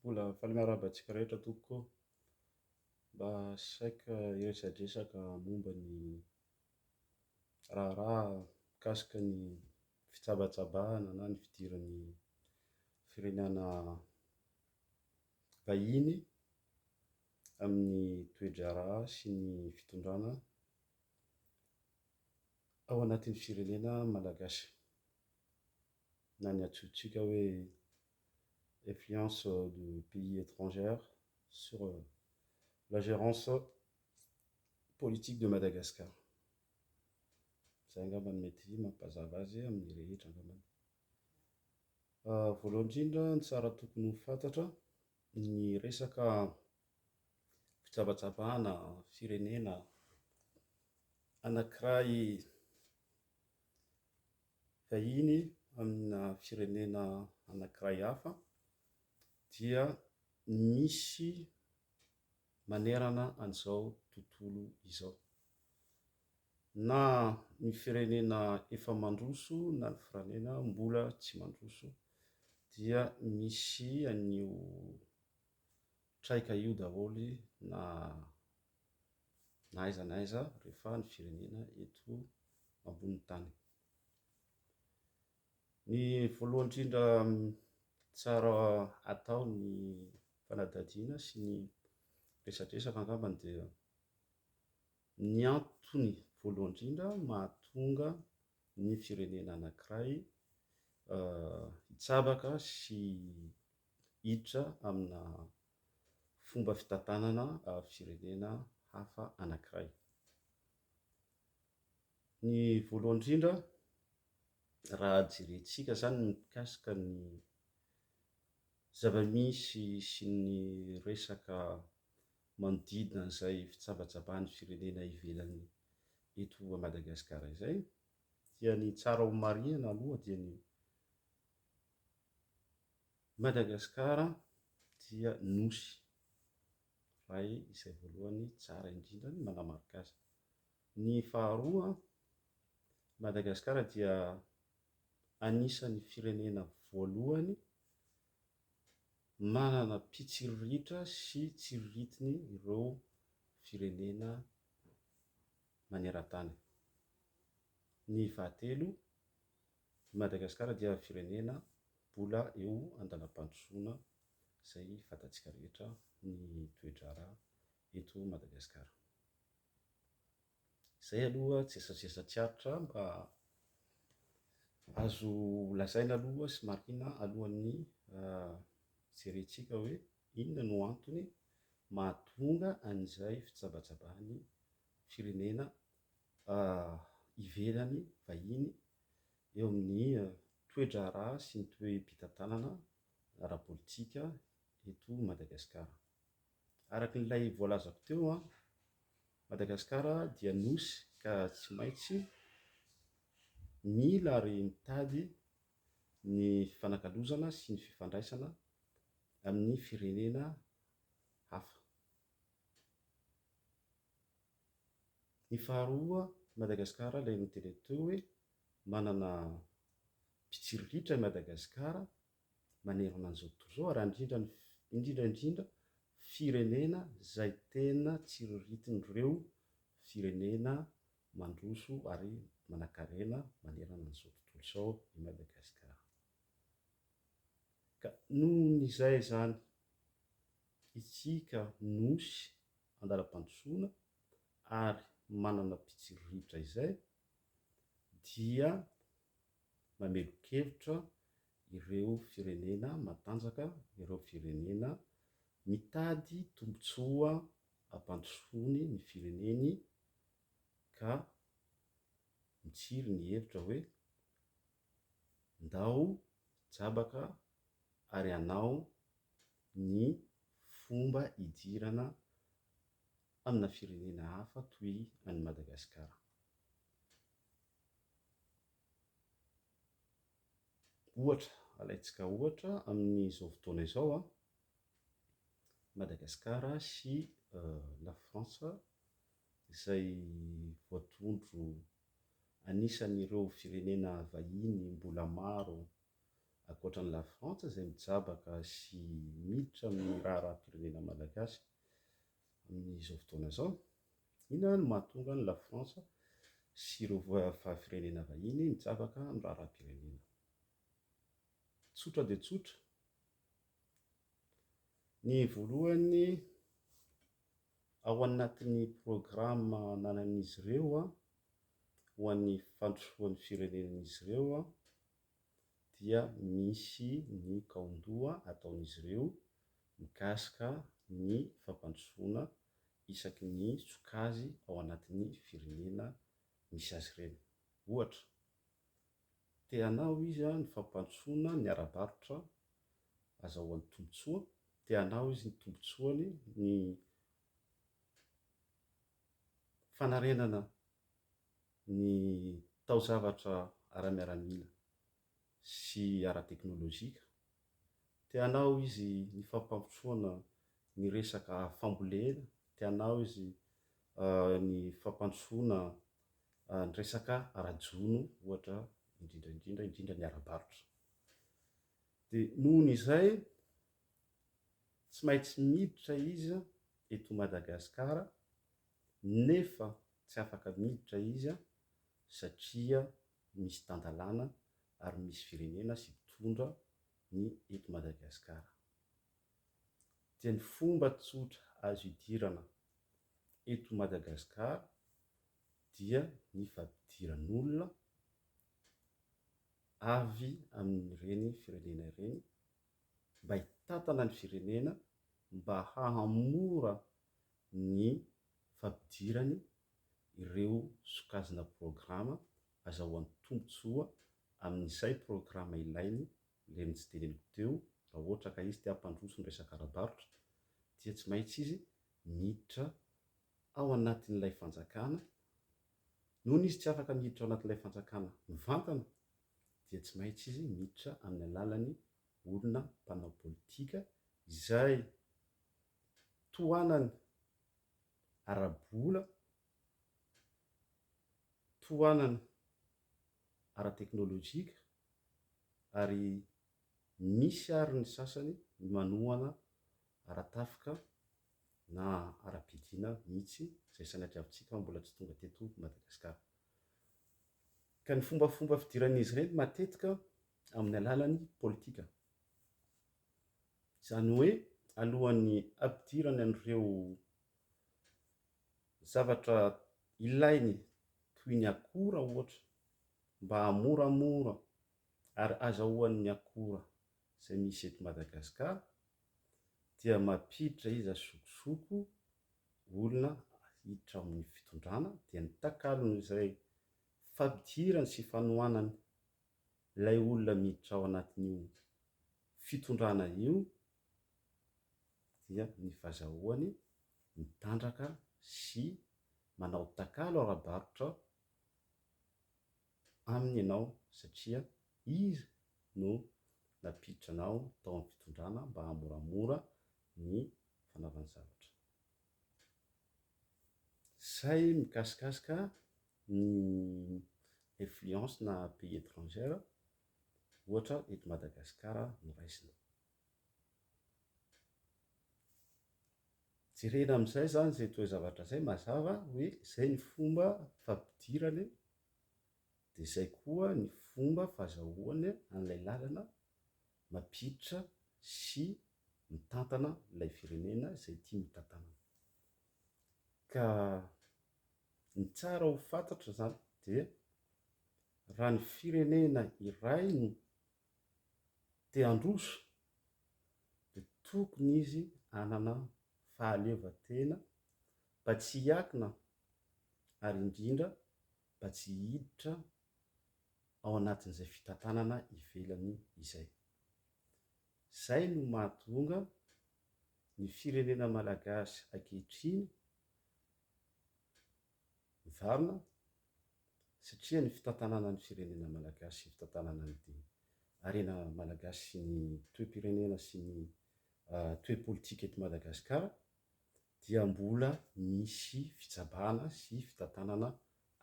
Mbola faly miarahaba antsika rehetra tompoko ô! Mba saika hiresadresaka momba ny raharaha mikasika ny fitsabatsabahana na ny fidiran'ny firenana vahiny amin'ny toe-draharaha sy ny fitondrana ao anatin'ny firenena malagasy na ny antsointsika hoe influence de pays etrangère sur la gérance politique de Madagascar. Izay angamba no mety mampazava azy amin'ny rehetra angambany. Voalohany indrindra ny tsara tokony ho fantatra ny resaka fijabajabana firenena anankiray vahiny amina firenena anankiray hafa dia misy manerana an'izao tontolo izao. Na ny firenena efa mandroso na ny firenena mbola tsy mandroso dia misy an'io traika io daholo na na aiza na aiza rehefa ny firenena eto ambonin'ny tany. Ny voalohany indrindra tsara atao ny fanadihadiana sy ny resadresaka angambany dia ny antony voalohany indrindra mahatonga ny firenena anankiray hitsabaka sy hiditra amina fomba fitantanana firenena hafa anankiray. Ny voalohany indrindra, raha jerentsika izany ny mikasika ny zava-misy sy ny resaka manodidina an'izay fitsabatsabahan'ny firenena ivelany eto Madagasikara izay, dia ny tsara homarihina aloha dia ny, I Madagasikara dia nosy iray izay voalohany tsara indrindra ny manamarika azy. Ny faharoa, i Madagasikara dia anisan'ny firenena voalohany manana mpitsiriritra sy tsiriritiny ireo firenena maneran-tany. Ny fahatelo, I Madagasikara dia firenena mbola eo an-dalam-pandrosoana izay fantatsika rehetra ny toe-draharaha eto Madagasikara. Izay aloha tsy esatresatsy tsy aritra mba azo lazaina aloha sy marihina alohan'ny jerentsika hoe inona no antony mahatonga an'izay fitsabatsabahan'ny firenena ivelany vahiny eo amin'ny toe-draharaha sy ny toe-pitantanana ara-politika eto Madagasikara. Araka ilay voalazako teo, Madagasikara dia nosy ka tsy maintsy mila ary mitady ny fifanakalozana sy ny fifandraisana amin'ny firenena hafa. Ny faharoa, Madagasikara ilay nody ilay teo hoe manana mpitsirolitra i Madagasikara manerana an'izao tontolo izao ary indrindra indrindra indrindra firenena izay tena tsiriritin'ireo firenena mandroso ary manankarena manerana an'izao tontolo izao i Madagasikara. Ka noho ny izay izany Isika Nosy andalam-pandrosoana ary manana mpitsiriritra izay dia mamelon-kevitra ireo firenena matanjaka, ireo firenena mitady tombontsoa ampandrosoany ny fireneny ka mitsiry ny hevitra hoe ndao jabaka ary hanao ny fomba hidirana amina firenena hafa toy an'i Madagasikara. Ohatra, alaintsika ohatra amin'izao fotoana izao an, Madagasikara sy Lafrantsa izay voatondro anisan'ireo firenena vahiny mbola maro ankoatra an'i Lafrantsa izay mijabaka sy miditra amin'ny raharaham-pirenena malagasy amin'izao fotoana izao. Inona no mahatonga an'i Lafrantsa sy ireo firenena vahiny mijabaka amin'ny raharaham-pirenena? Tsotra dia tsotra, ny voalohany ao anatin'ny programa ananan'izy ireo ho an'ny fandrosoan'ny firenen'izy ireo dia misy ny kaondoha ataon'izy ireo mikasika ny fampandrosoana isaky ny sokazy ao anatin'ny firenena misy azy ireny. Ohatra, te hanao izy ny fampandrosoana ny ara-barotra azahoany tombontsoa, te hanao izy ny tombontsoany ny fanarenana ny taozavatra ara-miaramila sy ara-teknolojika. Te hanao izy ny fampandrosoana ny resaka fambolena, te hanao izy ny fampandrosoana ny resaka ara-jono ohatra indrindra indrindra, indrindra ny ara-barotra. Dia nohon' izay tsy maintsy miditra izy eto Madagasikara nefa Tsy afaka miditra izy satria misy tan-dalàna ary misy firenena sy mpitondra ny eto Madagasikara. Dia ny fomba tsotra azo hidirana eto Madagasikara dia ny fampidiran'olona avy amin'ireny firenena ireny mba hitantana ny firenena mba hahamora ny fampidirany ireo sokajina programa azahoany tombotsoa amin'izay programa ilainy ilay ny tsy teneniko teo raha ohatra ka izy te hampandroso ny resaka ara-barotra dia tsy maintsy izy miditra ao anatin'ilay fanjakana noho ny izy tsy afaka miditra ao anatin'ilay fanjakana mivantana dia tsy maintsy izy miditra amin'ny alalan'ny olona mpanao politika izay tohanany ara-bola, tohanany ara-teknolojika ary misy ary ny sasany manohana ara-tafika na ara-piadiana mihitsy izay sanatriavintsika mbola tsy tonga teto Madagasikara. ka ny fombafomba fidiran'izy ireny matetika amin'ny alalan'ny politika. Izany hoe alohan'ny hampidirany an'ireo zavatra ilainy toy ny akora ohatra mba hahamoramora ary azahoany ny akora izay misy eto Madagasikara dia mampiditra izy azokizoko olona hiditra ao amin'ny fitondrana dia ny takalony izay fampidirany sy fanohanany ilay olona miditra ao anatin'io fitondrana io dia ny fazahoany mitandraka sy manao takalo ara-barotra aminy ianao satria izy no nampiditra anao tao amin'ny fitondrana mba hahamoramora ny fanaovany zavatra. Sahy mikasikasika ny influence na pays etrangère ohatra eto Madagascar no raisina. Jerena amin'izay zany izay toe-zavatra izay mazava hoe izay ny fomba fampidirany dia izay koa ny fomba fahazahoany an'ilay lalana mampiditra sy mitantana ilay firenena izay tiany hotantanana. Ka ny tsara ho fantatra izany dia raha ny firenena iray no te handroso dia tokony izy hanana fahaleovantena mba tsy hiakina ary indrindra mba tsy hiditra ao anatin'izay fitantanana ivelany izay. Izay no mahatonga ny firenena malagasy ankehitriny mivarina satria ny fitantanana ny firenena malagasy sy ny fitantanana ny harena malagasy sy ny toe-pirenena sy ny toe-politika eto Madagasikara dia mbola misy fitsabahana sy fitantanana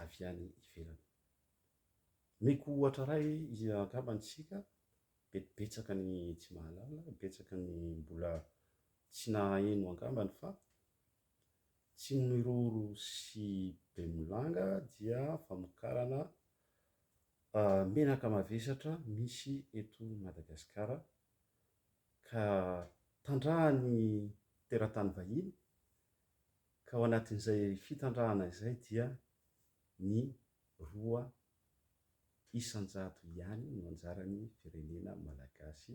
avy any ivelany. Omeko ohatra iray angamba ny isika, mety betsaka ny tsy mahalala, betsaka ny mbola tsy nahaheno angambany fa tsy miroro sy bemolanga dia famokarana menaka mavesatra misy eto Madagasikara ka tandrahan'ny teratany vahiny, ka ao anatin'izay fitandrahana izay dia ny roa isan-jato ihany no anjaran'ny firenena malagasy,